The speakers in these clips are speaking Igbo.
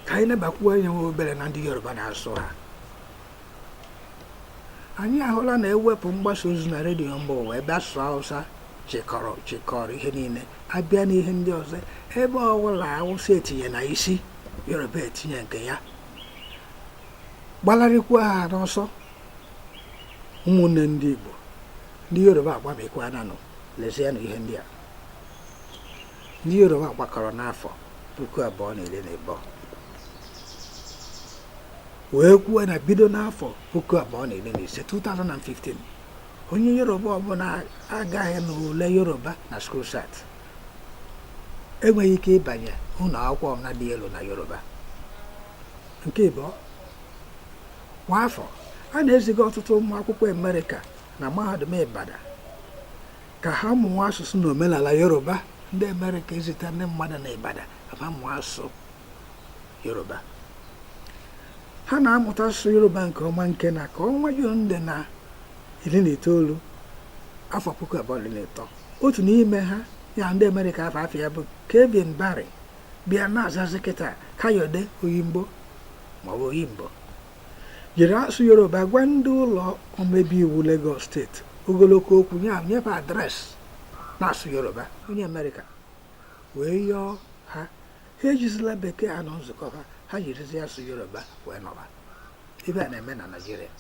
ka anyị nebakwuo anya nwa obere na ndị yoruba na asụsụ ha anyị ahụla na ewepụ mgbasa ozi na redio mba ụwa ebe asụsụ hausa chịkọrọ ihe niile abịa n'ihe ndị ọzọ ebe ọbụla awụsa etinye na isi yoruba etinye nke ya gbalarịkwa ha n'ọsọ ụmụnne ndị igbo ndị yoruba agbamikwaana nụ lezienụ ihe ndị a ndị Yoruba gbakọrọ n'afọ puku abụọ na iri na ịbụọ wee kwuo na bido n'afọ puku abụọ na iri na ise 2015 onye Yoruba ọbụla agaghị n'ule Yoruba na school cert enweghị ike ịbanye ụlọ akwụkwọ ọbụla dị elu na Yoruba nke ịbụọ kwa afọ a na-eziga ọtụtụ ụmụ akwụkwọ Amerịka na mahadum Ibadan ka ha mụọ asụsụ na omenala yoruba ndị amerịka ezite ndị mmadụ na Ibadan ka ha mụọ asụsụ yoruba ha na-amụta asụsụ yoruba nke ọma nke na ka ọnwa jun dị na iri na itoolu afọ puku abụọ na iri na ịtọ otu n'ime ha ya ndị amerịka afa ya bụ kevin barry bịa na-azazi kịta kayode oyimbo maọbụ oyimbo jiri asụsụ yoruba gwa ndị ụlọ omebe iwu Lagos steeti ogologo okwu nye fa adreesị n'asụsụ yoruba onye amerịka wee yọọ ha ha ejizila bekee anọ nzukọ ha ha jirizi asụsụ yoruba wee nọba ife a na-eme na naijiria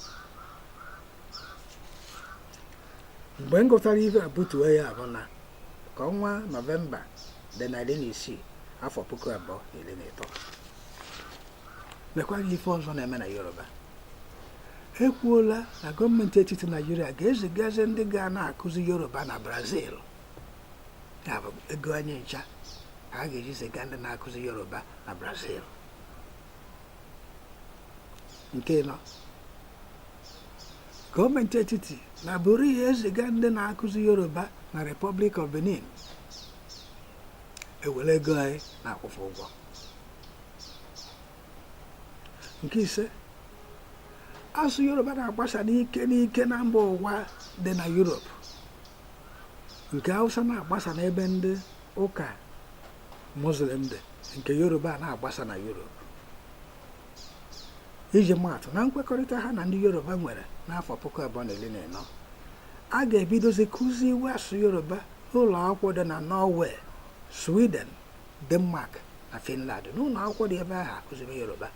mgbe m gụtara ife a butuo ya bụ na ka ọnwa nọvemba dị na iri na isii afọ puku abụọ na iri na ịtọ nekwa ife ọzọ na-eme na yoruba ekwuola na gọọmenti etiti naijiria ga-ezigazi ndị ga na-akụzi yoruba na brazil ya bụ ego anyị ncha ka a ga-eji ziga ndị na-akụzi yoruba na brazil nke ịnọ gọọmenti etiti na bụrụ ihe eziga ndị na-akụzi yoruba na republic of benin ewere ego anyị na-akwụ fa ụgwọ nke ise asụsụ yoruba na-agbasa n'ike n'ike na mba ụwa dị na yurop nke hausa na-agbasa n'ebe ndị ụka muslim dị nke yoruba na-agbasa na yurop iji maatụ na nkwekọrịta ha na ndị yoruba nwere n'afọ puku abụọ na iri na ịnọ a ga-ebidozi kụziwe asụsụ yoruba n'ụlọ akwụkwọ dị na norway sweden Denmark na Finland n'ụlọ akwụkwọ dị ebe ahụ a kụziri Yoruba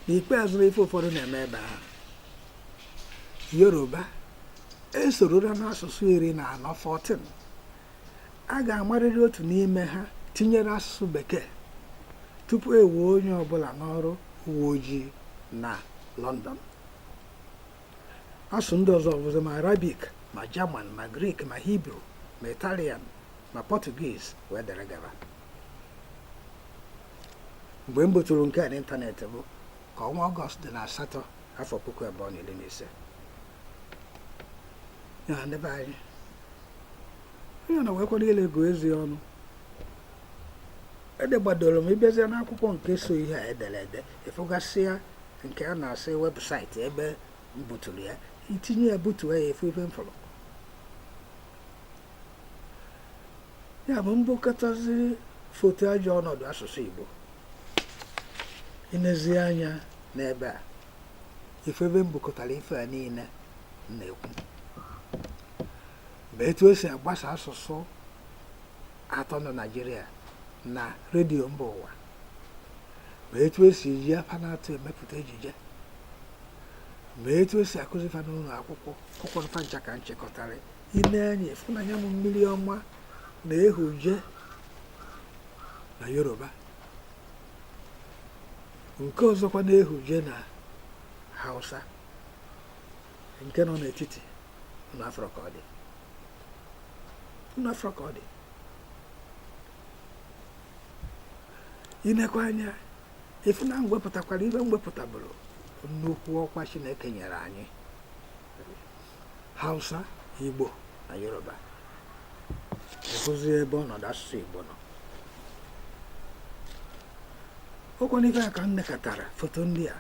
n'ikpeazụ ife ụfọdụ na-eme ebe ahụ Yoruba esorora n'asụsụ iri na anọ 14 a ga-amarịrị otu n'ime ha tinyere asụsụ bekee tupu e wee onye ọbụla n'ọrụ uwe ojii na London asụsụ ndị ọzọ bụzi ma Arabic ma German ma Greek ma Hibru ma Italian ma Portuguese wee dere gaba mgbe m buturu nke a n'ịntanetị bụ ka ọnwa ọgọst dị na asatọ afọ puku abụọ na iri na ise ya ndị be anyị onye na wekwara ile gụọ eze ọnụ edegbadoro m ị bịazie n'akwụkwọ nke so ihe a edere ede ị fụgasịa nke a na-asị webụsaịtị ebe m buturu ya itinye ya butuo ya ị fụ ife m fụrụ ya bụ m bukọtazi foto ajọ ọnọdụ asụsụ Igbo inezi anya n'ebe a ị fụ ebe m bukọtara ife a niile na-ekwu ma etu esi agbasa asụsụ atọ na Naịjirịa na redio mba ụwa ma etu esi eji fa naatọ emepụta ejije ma etu esi akụzi fa n'ụlọ akwụkwọ akwụkwọ fa ncha ka m chịkọtara ine anya ị fụ na nya bụ mmiri ọma na-ehuje na yoruba nke ọzọkwa na-ehuje na hausa nke nọ n'etiti unu afụrọ ka ọ dị unu afụrọ ka ọ dị inekwa anya ị fụ na m wepụtakwara ife m wepụtaburu nnukwu ọkwa chineke nyere anyị hausa igbo na yoruba ị hụzi ebe ọnọdụ asụsụ igbo nọ ọ kwanụ ife a ka m nekatara foto ndị a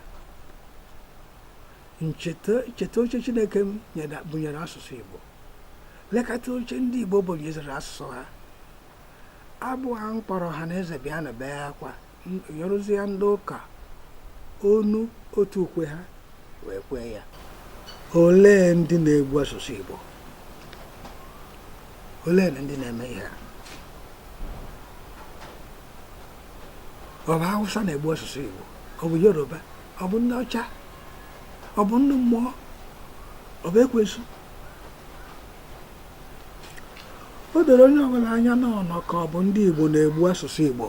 m cheta oche chineke bunyere asụsụ igbo lekata oche ndị igbo bunyeziri asụsụ ha abụ ahụ m kpọrọ ọha na eze bịanụ bee akwa nyeruzie ndị ụka ọnụ otu ukwe ha wee kwee ya olee ndị na-egbu asụsụ Igbo olee ndị na-eme ihe a ọ bụ Hausa na-egbu asụsụ Igbo ọ bụ Yoruba ọ bụ ndị ọcha ọ bụ ndị mmụọ ọ bụ ekwensu o doro onye ọbụla anya n'ọnọ ka ọ bụ ndị Igbo na-egbu asụsụ Igbo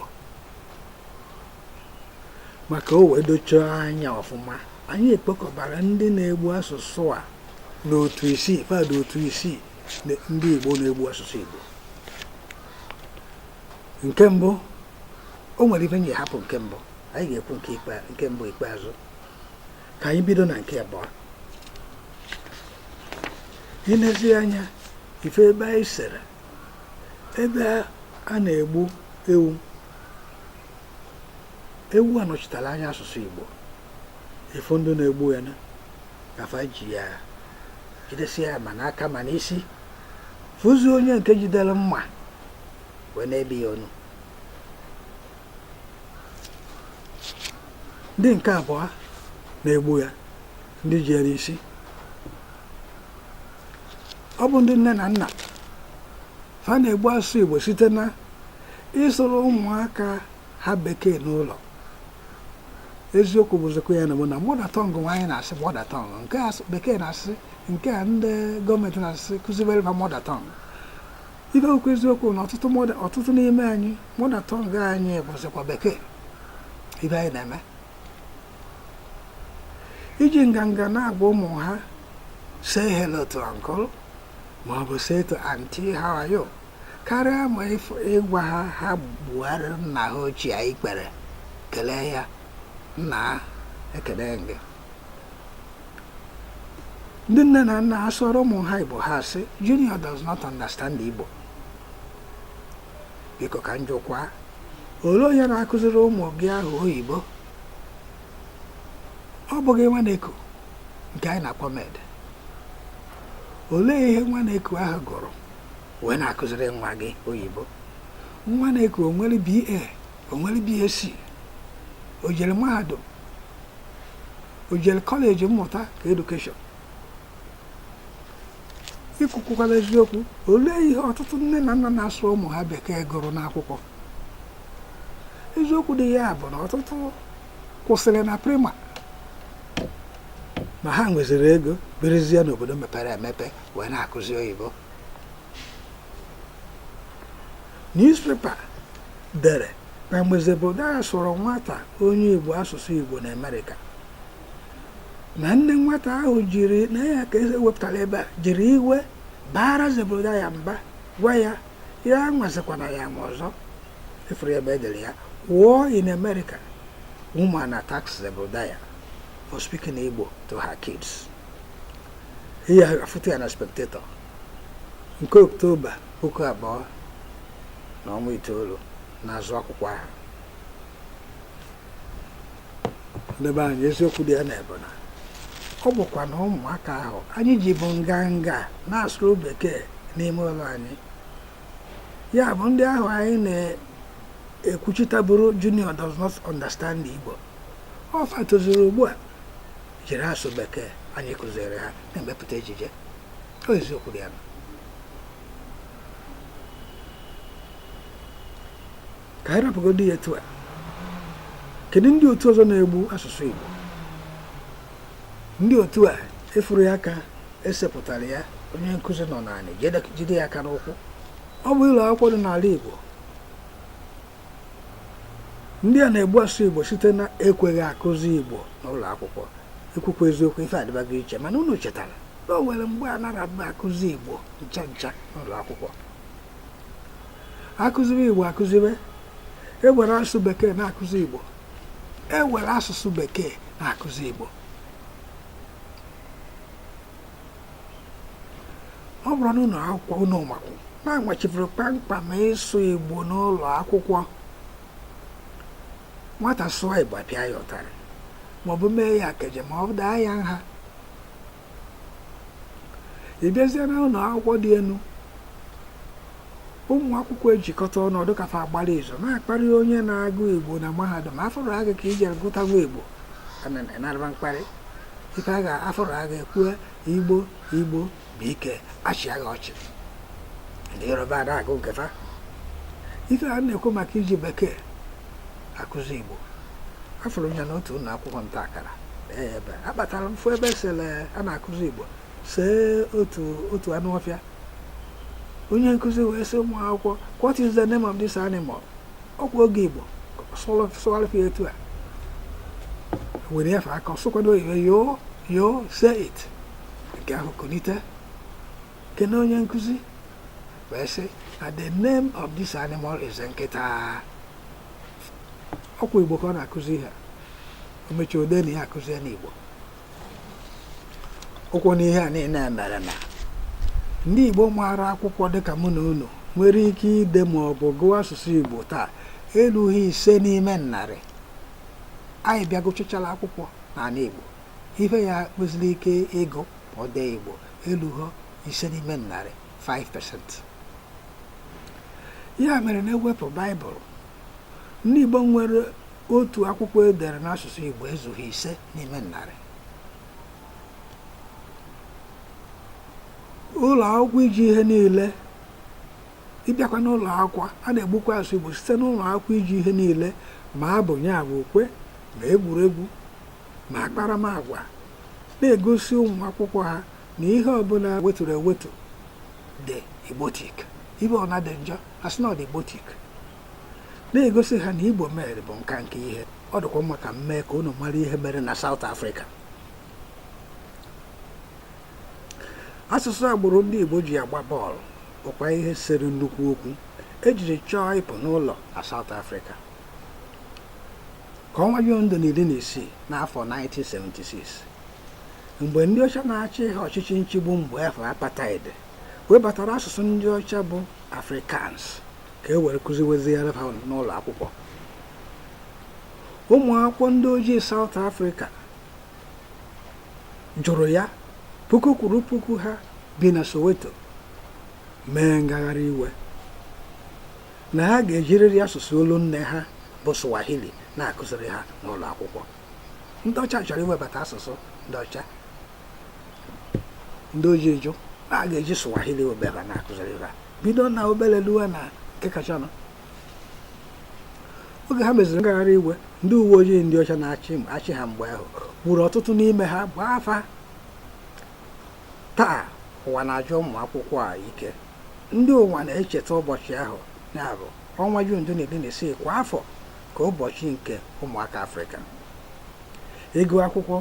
maka o wee dochaa anya ọfụma anyị ekpokọbara ndị na-egbu asụsụ a n'otu isii fa dụ otu isii ndị Igbo na-egbu asụsụ Igbo nke mbụ o nwere ife m ji hapụ nke mbụ anyị ga-ekwu nke mbụ ikpeazụ ka anyị bido na nke abụọ i lezie anya ị fụ ebe anyị sere ebe a na-egbu ewu ewu a nọchitara anya asụsụ Igbo ị fụ ndị na-egbu ya ka fa ji ya jidesie ya ma n'aka ma n'isi fụzie onye nke jidere mma wee na-ebi ya onu ndị nke abụọ na-egbu ya ndị ji ya n'isi ọ bụ ndị nne na nna fa na-egbu asụsụ Igbo site na ịsụrụ ụmụaka ha bekee n'ụlọ eziokwu bụzikwa ya na ọ bụ na mother tongue nwa anyị na-asị mother tongue nke a bekee na-asị nke a ndị gọọmenti na-asị kụzibere fa mother tongue ị bịa kwuo eziokwu na ọtụtụ n'ime anyị mother tongue anyị bụzikwa bekee ife anyị na-eme iji nganga na-agwa ụmụ ha say hello to uncle ma ọ bụ say to auntie how are you karịa ma ịgwa ha ha gbuoro nna ha ochie ikpere kelee ya nna ekele m gị ndị nne na nna a sụọrọ ụmụ ha Igbo ha sị junior does not understand Igbo biko ka njụkwa olee onye na-akụziri ụmụ gị ahụ oyibo ọ bụghị nwa na-eku nke anyị na-akpọ maid olee ihe nwa na-eku ahụ gụrụ wee na-akụziri nwa gị oyibo nwa na-eku o nwere BA o nwere BSc o jere mahadum o jere college mmụta nke education ikwukwukwala eziokwu olee ihe ọtụtụ nne na nna na-asụrụ ụmụ ha bekee gụrụ n'akwụkwọ eziokwu dị ya bụ na ọtụtụ kwụsịrị na prima ma ha nweziri ego birizie n'obodo mepere emepe wee na-akụzi oyibo newspaper dere na mgbe Zebrudaya sụrụ nwata onye Igbo asụsụ Igbo na Amerịka na nne nwata ahụ jiri na ya ka e wepụtara ebe a jiri iwe baara Zebrudaya mba gwa ya ya anwazikwana ya ma ọzọ ị fụrụ ebe e dere ya war in America woman attacks Zebrudaya for speaking Igbo to her kids ị ya-afụta ya na spectator nke Oktoba puku abụọ na ọnwa itoolu n'azụ akwụkwọ ahụ ndị be anyị eziokwu dị ya na ebona ọ bụkwa na ụmụaka ahụ anyị ji bụ nganga na-asụrụ bekee n'ime ụlọ anyị ya bụ ndị ahụ anyị na-ekwuchitaburu junior does not understand Igbo ọ fa tozuru ugbu a jiri asụ bekee anyị kụziiri ha na-emepụta ejije ọ eziokwu dị ya ka anyị rapụgodo ya etu a kedu ndị otu ọzọ na-egbu asụsụ Igbo ndị otu a ị fụrụ ya ka e sepụtara ya onye nkụzi nọ n'anị jide ya aka n'ụkwụ ọ bụ ụlọ akwụkwọ dị n'ala Igbo ndị a na-egbu asụsụ igbo site na ekweghị akụzi igbo n'ụlọ akwụkwọ e kwukwa eziokwu ife adịbago iche mana unu chetara na o nwere mgbe a narọ akụzi igbo ncha ncha n'ụlọ akwụkwọ akụziwe igbo akụziwe ewere asụsụ bekee na-akụzi igbo ewere asụsụ bekee na-akụzi igbo ọ bụrụ na ụnọ akwụkwọ unu makwụ na a machiburu kpamkpam ịsụ igbo n'ụlọ akwụkwọ nwata sụọ igbo apịa ya ụtarị maọbụ mee ya akaje maọbụ daa ya nha ị bịazie na ụnọ akwụkwọ dị enu ụmụ akwụkwọ ejikọta ọnụ ọ dị ka fa gbara izu na-akparị onye na-agụ igbo na mahadum afọrọ agụ ka i jere gụtawa igbo na-arịba mkparị ife a ga-afọrọ agụ ekwue igbo igbo BK achịa gị ọchị ndị yoruba ada agụ nke fa ife a na-ekwu maka iji bekee akụzi igbo afụrụ m ya n'otu ụlọ akwụkwọ nta akara ebe akpatara m fụ ebe sele a na-akụzi igbo see otu otu anụ ọfịa onye nkụzi wee sị ụmụ akwụkwọ what is the name of this animal ọkwa oge igbo sụgharịfụ etu a were efe aka ọ sụkwado oyibo you you say it nke ahụ kunite kene onye nkụzi wee sị na the name of this animal is nkịta ọkwa igbo ka ọ na-akụzi ha o mechie o dee na ya akụziena igbo ụkwụ n'ihe a niile mere na ndị Igbo maara akwụkwọ dịka mụ na unu nwere ike ide ma ọ bụ gụọ asụsụ Igbo taa erughị ise n'ime narị anyị bịa gụchachala akwụkwọ n'ala Igbo ife ya kwesịrị ike ịgụ ọ dee Igbo elughọ ise n'ime narị 5% ya mere na e wepụ baịbụl ndị Igbo nwere otu akwụkwọ edere n'asụsụ Igbo ezughị ise n'ime narị ụlọ akwụkwọ iji ihe niile ị bịakwa n'ụlọ akwụkwọ a na-egbukwa asụsụ Igbo site n'ụlọ akwụkwọ iji ihe niile ma abụ ya bụ ukwe ma egwuregwu ma akparamagwa na-egosi ụmụ akwụkwọ ha na ihe ọbụla weturu ewetu dị igbotik ife ọbụna dị njọ a sị na ọ dị igbotik na-egosi ha na igbo mere bụ nka nke ihe ọ dịkwa mma ka m mee ka unu mara ihe mere na South Africa asụsụ agbụrụ ndị Igbo ji agba bọọlụ bụkwa ihe sere nnukwu okwu ejiri chọọ ịpụ n'ụlọ na South Africa ka ọnwa June dị na iri na isii n'afọ 1976 mgbe ndị ọcha na-achị ha ọchịchị nchigbu mgbe afụ apartheid webatara asụsụ ndị ọcha bụ afrikaans ka e were kụziweziere ha n'ụlọ akwụkwọ ụmụ akwụkwọ ndị ojii saụt afrịka jụrụ ya puku kwuru puku ha bi na soweto mee ngagharị iwe na ha ga-ejirịrị asụsụ olu nne ha bụ swahili na-akụziri ha n'ụlọ akwụkwọ ndị ọcha chọrọ iwebata asụsụ ndị ọcha ndị ojii jụ na a ga-eji swahili obere na-akụziri ha bido na obere luwe na nke kachanụ oge ha meziri ngagharị iwe ndị uwe ojii ndị ọcha na-achị ha mgbe ahụ gburu ọtụtụ n'ime ha gbaa fa taa ụwa na-aja ụmụ akwụkwọ a ike ndị ụwa na-echeta ụbọchị ahụ ya bụ ọnwa jun dị na iri na isii kwa afọ ka ụbọchị nke ụmụaka afrịka ị gụọ akwụkwọ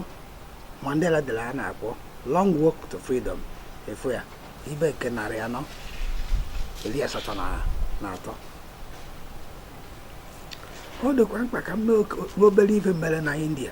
Mandela dere a na-akpọ Long Walk to Freedom ị fụ ya ibe nke narị anọ iri asatọ na atọ ọ dịkwa mkpa ka m mee obere ife mere na India